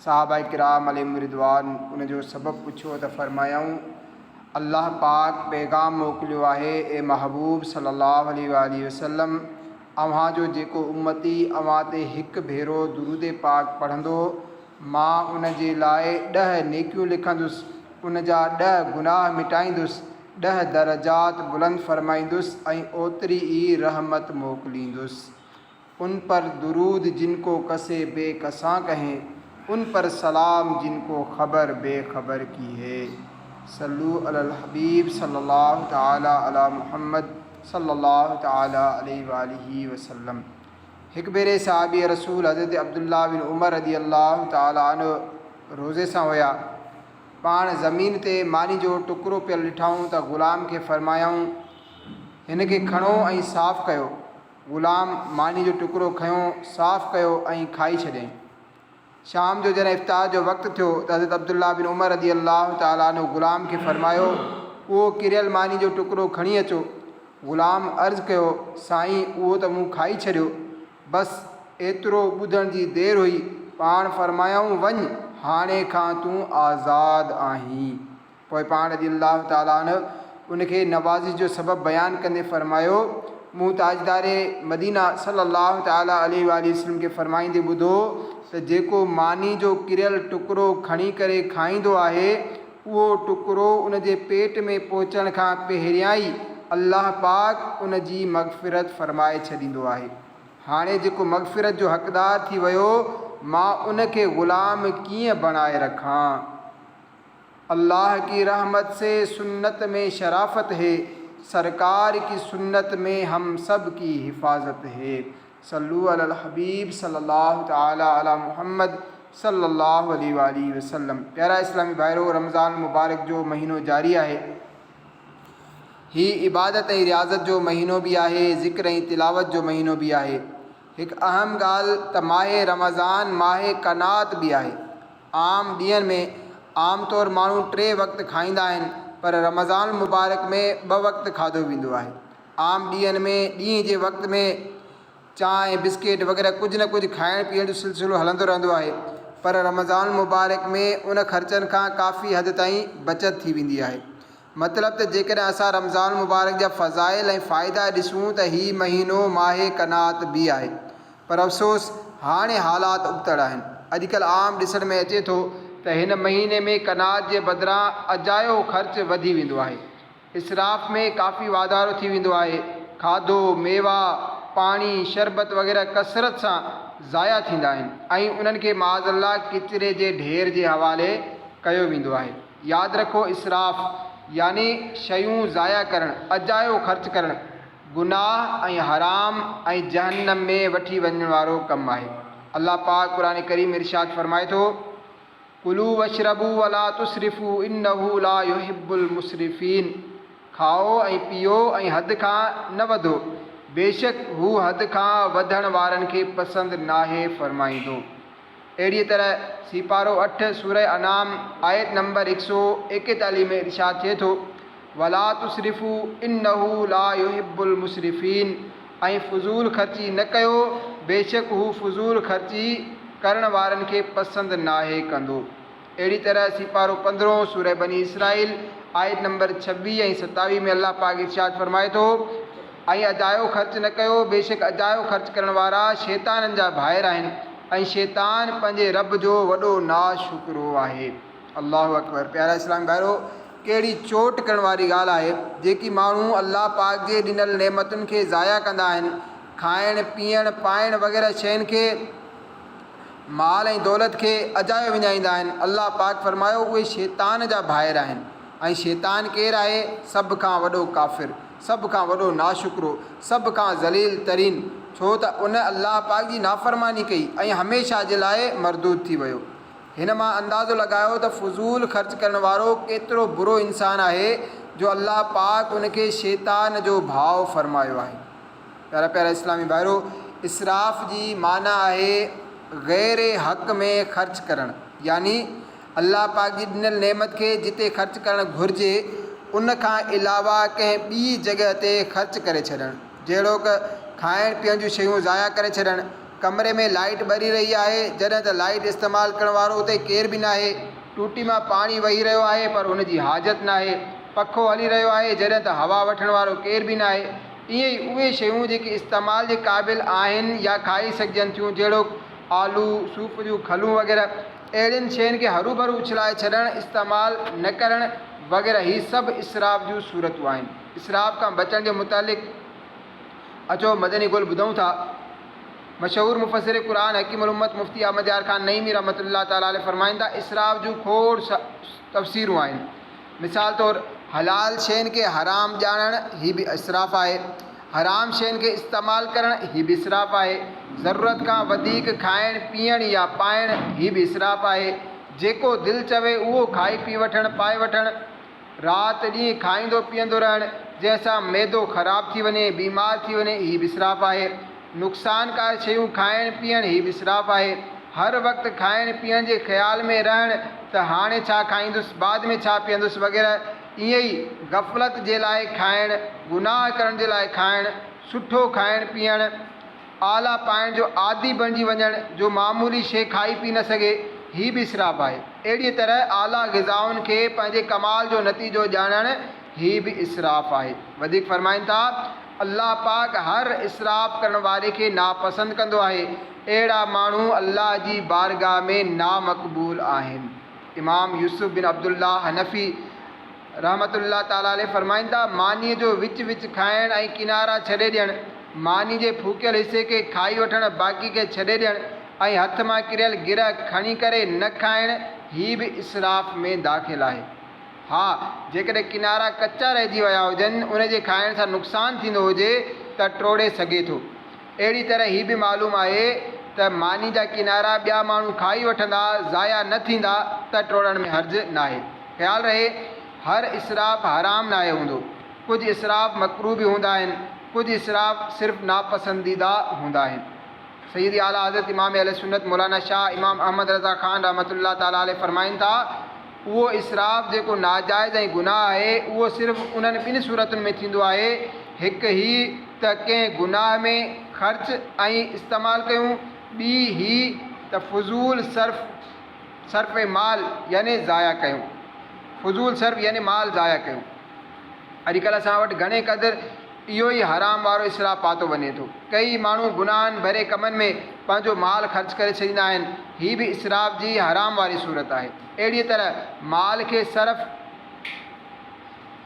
صحابه ڪرام عليهم الرضوان ان جو سبب پڇيو ته فرمايائون، الله پاڪ پيغام موڪليو آهي، اي محبوب صلّي الله عليه واٰله وسلّم! اوهان جو جيڪو امّتي اوهان تي هڪ ڀيرو درود پاڪ پڙهندو، مان ان جي لاء ڏهه نيڪيون لکندس، ان جا ڏهه گناهه مٽائيندس، ڏهه درجات بلند فرمائيندس ۽ اوتري ئي رحمت موڪليندس. ان پر درود جن ڪو ڪسي بي ڪسان ڪهين ان پر سلام جن ڪو خبر بي خبر ڪي هي صلو علی الحبيب صلّي الله تعالٰي عليٰ محمّد صلّي الله تعالٰي عليه واٰله وسلّم هڪ ڀيري صحابي رسول حضرت عبدالله بن عمر رضي الله تعالٰي عنه روزي سان هيا پاڻ زمين تي ماني جو ٽڪرو پيل ڏٺائون ته غلام کي فرمايائون هن کي کڻو ۽ صاف ڪيو غلام ماني جو ٽڪرو کنيو، صاف ڪيو ۽ کائي ڇڏيائين. شام جو جڏهن افطار جو وقت ٿيو ته حضرت عبدالله بن عمر رضي الله تعالٰي عنه غلام کي فرمايو، اهو ڪريل ماني جو ٽڪرو کڻي اچو. غلام عرض ڪيو، سائين اهو ته مون کائي ڇڏيو. بس ايترو ٻڌڻ جي دير هئي، پاڻ فرمايائون، وڃ، هاڻي کان تون آزاد آهين. پوء پاڻ رضي الله تعالٰي عنه ان کي نوازش جو سبب بيان ڪندي فرمايو، مون تاجدار مدينه صلّي الله تعالٰي عليه واٰله وسلّم کي فرمائيندي ٻڌو ته جيڪو ماني جو ڪريل ٽڪرو کڻي ڪري کائيندو آهي، اهو ٽڪرو ان جي پيٽ ۾ پهچڻ کان پهريان ئي الله پاڪ ان جي مغفرت فرمائي ڇڏيندو آهي. هاڻي جيڪو مغفرت جو حقدار ٿي ويو، مان ان کي غلام ڪيئن بڻائي رکان؟ الله ڪي رحمت سي سنت مين شرافت هي سرڪار ڪي سنت مين هم سب ڪي حفاظت هي صلو علي الحبيب صلي الله تعالي علي محمد صلي الله عليه واٰله وسلم پيارا اسلامي ڀائرو رمضان المبارڪ جو مهينو جاري آهي هي عبادت ۽ رياضت جو مهينو به آهي ذڪر ۽ تلاوت جو مهينو به آهي هڪ اهم ڳالهه ته ماهه رمضان ماهه قناعت به آهي عام ڏينهن ۾ عام طور ماڻهو ٽي وقت کائيندا آهن پر رمضان المبارڪ ۾ ٻه وقت کاڌو ويندو آهي. عام ڏينهن ۾ ڏينهن جي وقت ۾ چانهه، بسڪيٽ وغيره ڪجهه نه ڪجهه کائڻ پيئڻ جو سلسلو هلندو رهندو آهي پر رمضان المبارڪ ۾ ان خرچن کان ڪافي حد تائين بچت ٿي ويندي آهي. مطلب ته جيڪڏهن اسان رمضان المبارڪ جا فضائل ۽ فائدا ڏسون ته هي مهينو ماهه قناعت به آهي پر افسوس هاڻي حالات ابتڙ آهن اڄڪلهه عام ڏسڻ ۾ اچي ٿو ته هن مهيني ۾ قناعت جي بدران اجايو خرچ وڌي ويندو آهي اسراف ۾ ڪافي واڌارو ٿي ويندو آهي کاڌو ميوا پاڻي شربت وغيره ڪثرت سان ضايع ٿيندا آهن ۽ انهن کي معاذ الله ڪچري جي ڍير جي حوالي ڪيو ويندو آهي. ياد رکو اسراف يعني شيون ضايع ڪرڻ، اجايو خرچ ڪرڻ، گناهه ۽ حرام ۽ جهنم ۾ وٺي وڃڻ وارو ڪم آهي. الله پاڪ قرآن ڪريم ۾ ارشاد فرمائي ٿو، ڪلوا واشربوا ولا تسرفوا انه لا يحب المسرفين کائو ۽ پيئو ۽ حد کان نه وڌو بيشڪ هو حد کان وڌڻ وارن کي پسند ناهي فرمائيندو. اهڙيء طرح سيپارو اٺ سورة انعام آيت نمبر هڪ سؤ ايڪيتاليهه ۾ ارشاد ٿئي ٿو، ولا تسرفو انه لا يحب المسرفين ۽ فضول خرچي نه ڪيو بيشڪ هو فضول خرچي ڪرڻ وارن کي پسند ناهي ڪندو. اهڙي طرح سيپارو پندرهون سوره بني اسرائيل آيت نمبر ڇويهه ۽ ستاويهه ۾ الله پاڪ ارشاد فرمائي ٿو، ۽ اجايو خرچ نه ڪيو، بيشڪ اجايو خرچ ڪرڻ وارا شيطانن جا ڀائر آهن ۽ شيطان پنهنجي رب جو وڏو ناشڪرو آهي. الله اڪبر پيارا اسلامي ڀائرو! ڪهڙي چوٽ ڪرڻ واري ڳالهه آهي جيڪي ماڻهو الله پاڪ جي ڏنل نعمتن کي ضايع ڪندا آهن، کائڻ، پيئڻ، پائڻ وغيره شين کي، مال ۽ دولت کي اجايو وڃائيندا آهن، الله پاڪ فرمايو، اهي شيطان جا ڀائر آهن ۽ شيطان ڪير آهي؟ سڀ کان وڏو ڪافر، سڀ کان وڏو ناشڪرو، سڀ کان ذليل ترين، ڇو ته ان الله پاڪ جي نافرماني ڪئي ۽ هميشه جي لاء مردود ٿي ويو. هن مان اندازو لڳايو ته فضول خرچ ڪرڻ وارو ڪيترو برو انسان آهي جو الله پاڪ ان کي شيطان جو ڀاء فرمايو آهي. پيارا پيارا اسلامي ڀائرو! اسراف جي معنيٰ آهي غير حق ۾ خرچ ڪرڻ يعني الله پاڪ جي ڏنل نعمت کي جتي خرچ ڪرڻ گهرجي ان کان علاوه ڪنهن ٻي جڳهه تي خرچ ڪري ڇڏڻ جهڙوڪ کائڻ پيئڻ جون شيون ضايع ڪري ڇڏڻ، ڪمري ۾ لائيٽ ٻري رهي آهي جڏهن ته لائيٽ استعمال ڪرڻ وارو اتي ڪير به ناهي، ٽوٽي مان پاڻي وهي رهيو آهي پر ان جي حاجت ناهي، پکو هلي رهيو آهي جڏهن ته هوا وٺڻ وارو ڪير به ناهي. ائين ئي اهي شيون جيڪي استعمال جي قابل آهن يا کائي سگهجن ٿيون جهڙوڪ آلو، صوف جون کلون وغيره اهڙين شين کي هروڀرو اڇلائي ڇڏڻ، استعمال نه ڪرڻ وغيره هي سڀ اسراف جون صورتون آهن. اسراف کان بچڻ جي متعلق اچو مدني گل ٻڌون ٿا. مشهور مفسر قرآن حڪيم الامت مفتي احمد يار خان نعيمي رحمة الله تعالٰي عليه فرمائين ٿا، اسراف جون کوڙ تفسيرون آهن. مثال طور، حلال شين کي حرام ڄاڻڻ، هي به اسراف آهي. حرام شين کي استعمال ڪرڻ، هي به اسراف آهي. ضرورت کان وڌيڪ کائڻ، پيئڻ يا پائڻ، هي به اسراف آهي. جيڪو دل چوي اهو کائي پي وٺڻ، پائي وٺڻ. رات ڏينهن کائيندو پيئندو رهڻ، جنهن سان معدو خراب ٿي وڃي، بيمار ٿي وڃي، هي به اسراف آهي. نقصانڪار شيون کائڻ پيئڻ هي اسراف آهي. هر وقت کائڻ پيئڻ جي خيال ۾ رهڻ ته هاڻي ڇا کائيندس، بعد ۾ ڇا پيئندس وغيره ائين ئي غفلت جي لاء کائڻ، گناهه ڪرڻ جي لاء کائڻ، سٺو کائڻ پيئڻ، آلا پائڻ جو عادي بڻجي وڃڻ جو معمولي شيء کائي پي نه سگهي هي به اسراف آهي. اهڙيء طرح اعليٰ غذائن کي پنهنجي ڪمال جو نتيجو ڄاڻڻ هي به اسراف آهي. وڌيڪ فرمائن ٿا، الله پاڪ هر اسراف ڪرڻ واري کي ناپسند ڪندو آهي. اهڙا ماڻهو الله جي بارگاهه ۾ نامقبول آهن. امام يوسف بن عبدالله حنفي رحمة الله تعالٰي عليه فرمائن ٿا، مانيء جو وچ وچ کائڻ ۽ ڪنارا ڇڏي ڏيڻ، ماني جي ڦوڪيل حصي کي کائي وٺڻ باقي کي ڇڏي ڏيڻ ۽ هٿ مان ڪريل گرهه کڻي ڪري نه کائڻ هي به اسراف ۾ داخل آهي. ها، جيڪڏهن ڪنارا ڪچا رهجي ويا هجن، ان جي کائڻ سان نقصان ٿيندو هجي ته ٽوڙي سگهي ٿو. اهڙي طرح هي به معلوم آهي ته ماني جا ڪنارا ٻيا ماڻهو کائي وٺندا، ضايع نه ٿيندا ته ٽوڙڻ ۾ حرج ناهي. خيال رهي، هر اسراف حرام ناهي هوندو. ڪجهه اسراف مڪروه به هوندا آهن، ڪجهه اسراف صرف ناپسنديده هوندا آهن. سيد اعليٰ حضرت امام اهل سنت مولانا شاهه امام احمد رضا خان رحمة الله تعالٰي عليه فرمائن ٿا، اهو اسراف جيڪو ناجائز ۽ گناهه آهي، اهو صرف انهن ٻن صورتن ۾ ٿيندو آهي، هڪ هيء ته ڪنهن گناهه ۾ خرچ ۽ استعمال ڪيون، ٻي هيء ته فضول صرف، صرف مال، يعني ضايع ڪيون. فضول صرف يعني مال ضايع ڪيون. اڄڪلهه اسان وٽ گهڻي قدر اهو ئي حرام وارو اسراف پاتو وڃي ٿو. ڪيئي ماڻهو گناهن ڀري ڪمن ۾ پنهنجو مال خرچ ڪري ڇڏيندا آهن، هي به اسراف جي حرام واري صورت آهي. اهڙيء طرح مال کي صرف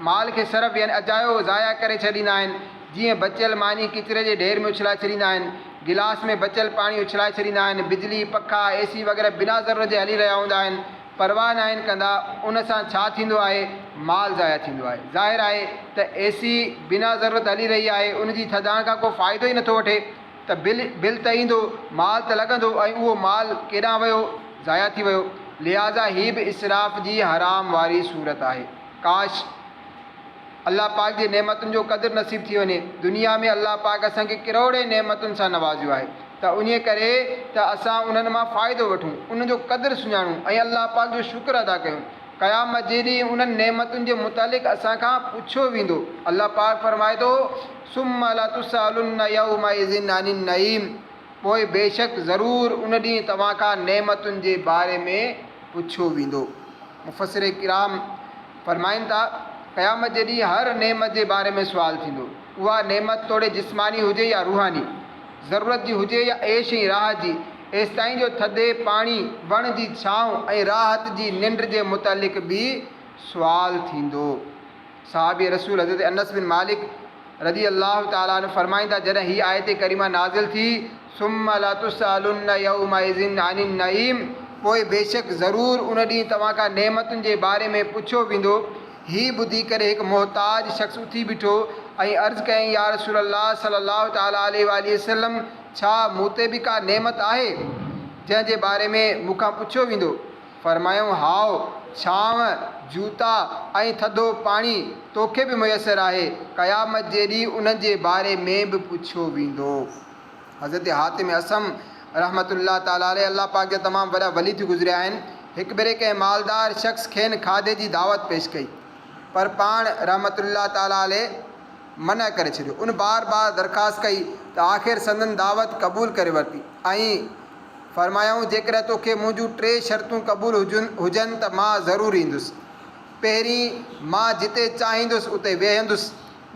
مال کي صرف يعني اجايو ضايع ڪري ڇڏيندا آهن، جيئن بچيل ماني ڪچري جي ڍير ۾ اڇلائي ڇڏيندا آهن، گلاس ۾ بچيل پاڻي اڇلائي ڇڏيندا آهن، بجلي، پکا، اي سي وغيره بنا ضرورت جي هلي رهيا هوندا آهن، پرواهه ناهن ڪندا، ان سان ڇا ٿيندو آهي؟ مال ضايع ٿيندو آهي. ظاهر آهي ته اي سي بنا ضرورت هلي رهي آهي، ان جي ٿڌائڻ کان ڪو فائدو ئي نٿو وٺي. ته بل، بل ته ايندو، مال ته لڳندو ۽ اهو مال ڪيڏانهن ويو؟ ضايع ٿي ويو. لهٰذا هي به اسراف جي حرام واري صورت آهي. ڪاش! الله پاڪ جي نعمتن جو قدر نصيب ٿي وڃي. دنيا ۾ الله پاڪ اسان کي ڪروڙين نعمتن سان نوازيو آهي ته انهيء ڪري ته اسان انهن مان فائدو وٺون، انهن جو قدر سڃاڻون ۽ الله پاڪ جو شڪر ادا ڪيون. قيامت جي ڏينهن انهن نعمتن جي متعلق اسان کان پڇيو ويندو. الله پاڪ فرمائي ٿو. ثم لتسئلن يومئذ عن النعيم پوء بيشڪ ضرور ان ڏينهن توهان کان نعمتن جي باري ۾ پڇيو ويندو. مفسر ڪرام فرمائن ٿا، قيامت جي ڏينهن هر نعمت جي باري ۾ سوال ٿيندو. اها نعمت توڙي جسماني هجي يا روحاني، ضرورت جي هجي يا عيش ۽ راحت جي، ايستائين جو ٿڌي پاڻي، وڻ جي ڇانو ۽ راحت جي ننڊ جي متعلق به سوال ٿيندو. صحابي رسول حضرت انس بن مالڪ رضي الله تعالٰي عنه فرمائن ٿا، جڏهن هيء آيت ڪريمه نازل ٿي، ثم لتسئلن يومئذ عن النعيم، پوء بيشڪ ضرور ان ڏينهن توهان کان نعمتن جي باري ۾ پڇيو ويندو. هي ٻڌي ڪري هڪ محتاج شخص اٿي بيٺو ۽ عرض ڪيائين، يا رسول الله صلّي الله تعالٰي عليه واٰله وسلّم! ڇا مون تي به ڪا نعمت آهي، جنهن جي باري ۾ مون کان پڇيو ويندو؟ فرمايائون، هائو، ڇانو، جوتا ۽ ٿڌو پاڻي توکي به ميسر آهي، قيامت جي ڏينهن انهن جي باري ۾ به پڇيو ويندو. حضرت حاتم اصم رحمة الله تعالٰي عليه الله پاڪ جا تمام وڏا ولي ٿي گذريا آهن، هڪ ڀيري ڪنهن مالدار شخص کين کاڌي جي دعوت پيش ڪئي، پر پاڻ رحمة الله تعالٰي عليه منع ڪري ڇڏيو، ان بار بار درخواست ڪئي ته آخر سندن دعوت قبول ڪري ورتي ۽ فرمايائون، جيڪڏهن توکي منهنجون ٽي شرطون قبول هجن ته مان ضرور ايندس. پهرين، مان جتي چاهيندس اتي ويهندس.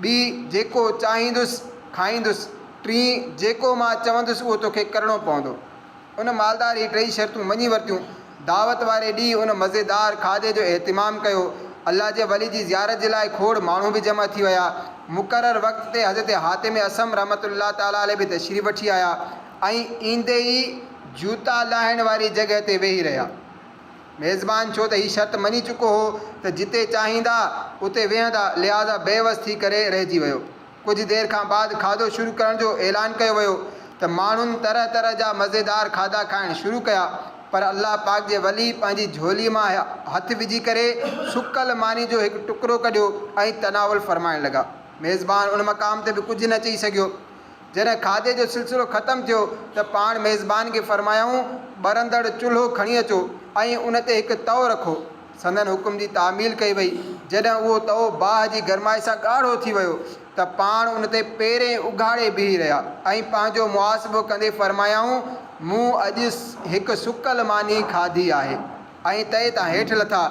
ٻي، جيڪو چاهيندس کائيندس. ٽين، جيڪو مان چوندس اهو توکي ڪرڻو پوندو. ان مالدار هي ٽئي شرطون مڃي ورتيون. دعوت واري ڏينهن ان مزيدار کاڌي جو اهتمام ڪيو. الله جي ولي جي زيارت جي لاء کوڙ ماڻهو به جمع ٿي ويا. مقرر وقت تي حضرت حاتم اصم رحمة الله تعالٰي عليه به تشريف وٺي آيا. ائين ايندي ئي جوتا لاهڻ واري جڳهه تي ويهي رهيا. ميزبان ڇو ته هي شرط مڃي چڪو هو ته جتي چاهيندا اتي ويهندا لهٰذا بي وس ٿي ڪري رهجي ويو. ڪجهه دير کان بعد کاڌو شروع ڪرڻ جو اعلان ڪيو ويو ته ماڻهن طرح طرح جا مزيدار کاڌا کائڻ شروع ڪيا پر الله پاڪ جي ولي پنهنجي جهولي مان هٿ وجهي ڪري سڪل ماني جو هڪ ٽڪرو ڪڍيو ۽ تناول فرمائڻ لڳا. ميزبان ان مقام تي به ڪجهه نه چئي سگهيو. جڏهن کاڌي جو سلسلو ختم ٿيو ته پاڻ ميزبان کي فرمايائون، ٻرندڙ چلهو کڻي اچو ۽ ان تي هڪ تئو رکو. سندن حڪم جي تعميل ڪئي وئي. جڏهن اهو تئو باهه جي گرمائش سان ڳاڙهو ٿي ويو ته پاڻ ان تي پيرين اگهاڙي بيهي رهيا ۽ پنهنجو محاسبو ڪندي فرمايائون، مون اڄ هڪ سڪل ماني کاڌي آهي ۽ تئي تان هيٺ لٿا.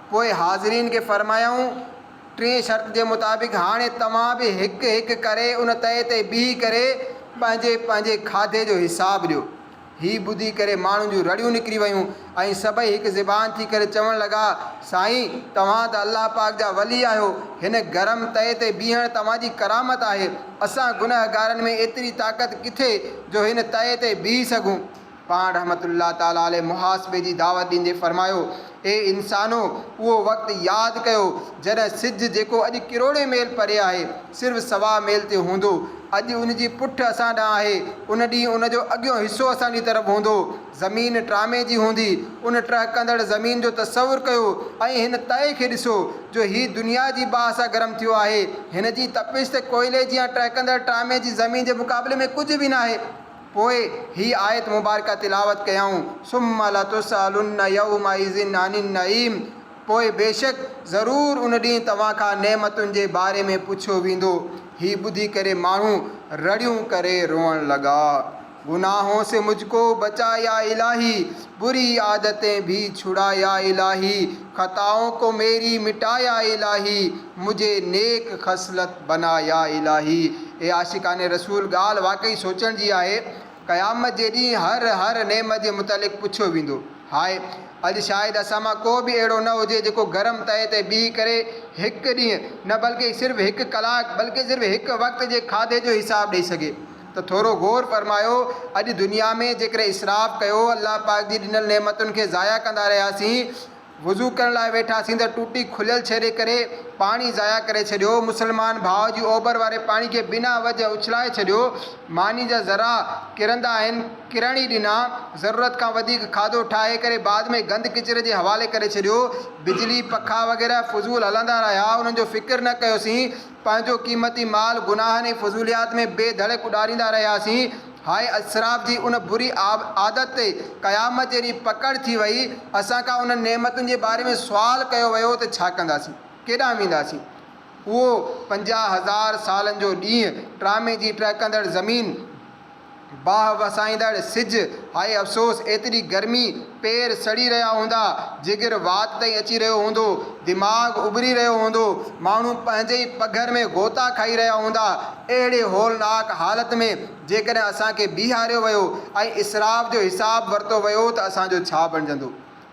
پوء حاضرين کي فرمايائون، ٽين شرط جي مطابق هاڻي توهان به هڪ هڪ ڪري ان تئي تي بيهي ڪري پنهنجي پنهنجي کاڌي جو حساب ڏيو. هي ٻڌي ڪري ماڻهن جون رڙيون نڪري ويون ۽ سڀئي هڪ زبان ٿي ڪري چوڻ لڳا، سائين توهان ته الله پاڪ جا ولي آهيو، هن گرم تئي تي بيهڻ توهان جي ڪرامت آهي، اسان گنهگارن ۾ ايتري طاقت ڪٿي جو هن تئي تي بيهي سگهون. پاڻ رحمة الله تعالٰي عليه محاسبي جي دعوت ڏيندي فرمايو، اي انسانو! اهو وقت ياد ڪيو، جڏهن سج جيڪو اڄ ڪروڙين ميل پري آهي، صرف سوا ميل تي هوندو. اڄ ان جي پٺ اسان ڏانهن آهي، ان ڏينهن ان جو اڳيون حصو اسان جي طرف هوندو. زمين ٽرامي جي هوندي. ان ٽهڪندڙ زمين جو تصور ڪيو ۽ هن تئي کي ڏسو، جو هي دنيا جي باهه سان گرم ٿيو آهي. هن جي تپش ته ڪوئلي جيان ٽهڪندڙ ٽرامي جي زمين جي مقابلي ۾ ڪجهه به ناهي. پوء هي آيت مبارڪه تلاوت ڪيائون، ثم لتسئلن يومئذ عن النعيم پوء بيشڪ ضرور ان ڏينهن توهان کان نعمتن جي باري ۾ پڇيو ويندو. هي ٻڌي ڪري ماڻهو رڙيون ڪري روئڻ لڳا. گناهون سي مجھ ڪو بچا يا الاهي، بري عادتين ڀي ڇڙا يا الاهي، خطائون ڪو ميري مٽا يا الاهي، مجھي نيڪ خصلت بنا يا الاھي اي عاشقان رسول ڳالھ واقعي سوچڻ جي آھي قيامت جي ڏينھن ھر ھر نعمت جي متعلق پڇيو ويندو ھاء اڄ شايد اسان مان ڪو به اھڙو نه ھجي جيڪو گرم تئي تي بيھي ڪري ھڪ ڏينھن نه بلڪه صرف ھڪ ڪلاڪ بلڪه صرف ھڪ وقت جي کاڌي جو حساب ڏئي سگھي ته ٿورو غور فرمايو اڄ دنيا ۾ جيڪڏھن اسراف ڪيو الله پاڪ جي ڏنل نعمتن کي ضايع ڪندا رھياسين وضو ڪرڻ لاء ويٺاسين ته ٽوٽي کليل ڇيري ڪري پاڻي ضايع ڪري ڇڏيو. مسلمان ڀاء جي اوڀر واري پاڻي کي بنا وجه اڇلائي ڇڏيو. ماني جا ذرا ڪرندا آهن، ڪرڻ ئي ڏنا. ضرورت کان وڌيڪ کاڌو ٺاهي ڪري بعد ۾ گند ڪچري جي حوالي ڪري ڇڏيو. بجلي، پکا وغيره فضول هلندا رهيا، انهن جو فڪر نه ڪيوسين. پنهنجو قيمتي مال گناهن ۽ فضوليات ۾ بي ڌڙڪ اڏاريندا رهياسين. هاء اسراف جي ان بري عادت تي قيامت جي ڏينهن پڪڙ ٿي وئي، اسان کان انهن نعمتن جي باري ۾ سوال ڪيو ويو ته ڇا ڪنداسين؟ ڪيڏانهن وينداسين؟ اهو پنجاهه هزار سالن جو ڏينهن، ٽرامي جي ٽهڪندڙ زمين، باهه وسائيندڙ سج، هاء افسوس ايتري گرمي، پير سڙي رهيا هوندا، جگر وات تائين اچي رهيو هوندو، دماغ اٻري رهيو هوندو، ماڻهو پنهنجي ئي پگهر ۾ غوطا کائي رهيا هوندا. اهڙي هولناڪ حالت ۾ جيڪڏهن اسان کي بيهاريو ويو ۽ اسراف جو حساب ورتو ويو ته اسان جو ڇا بڻجندو؟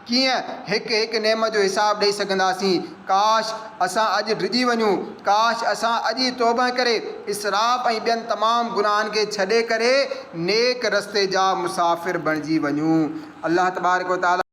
ڪيئن هڪ هڪ نعمت جو حساب ڏئي سگهنداسين؟ ڪاش اسان اڄ ڊڄي وڃون، ڪاش اسان اڄ ئي توبهه ڪري اسراف ۽ ٻين تمام گناهن کي ڇڏي ڪري نيڪ رستي جا مسافر بڻجي وڃون. الله تبارڪ و تعاليٰ.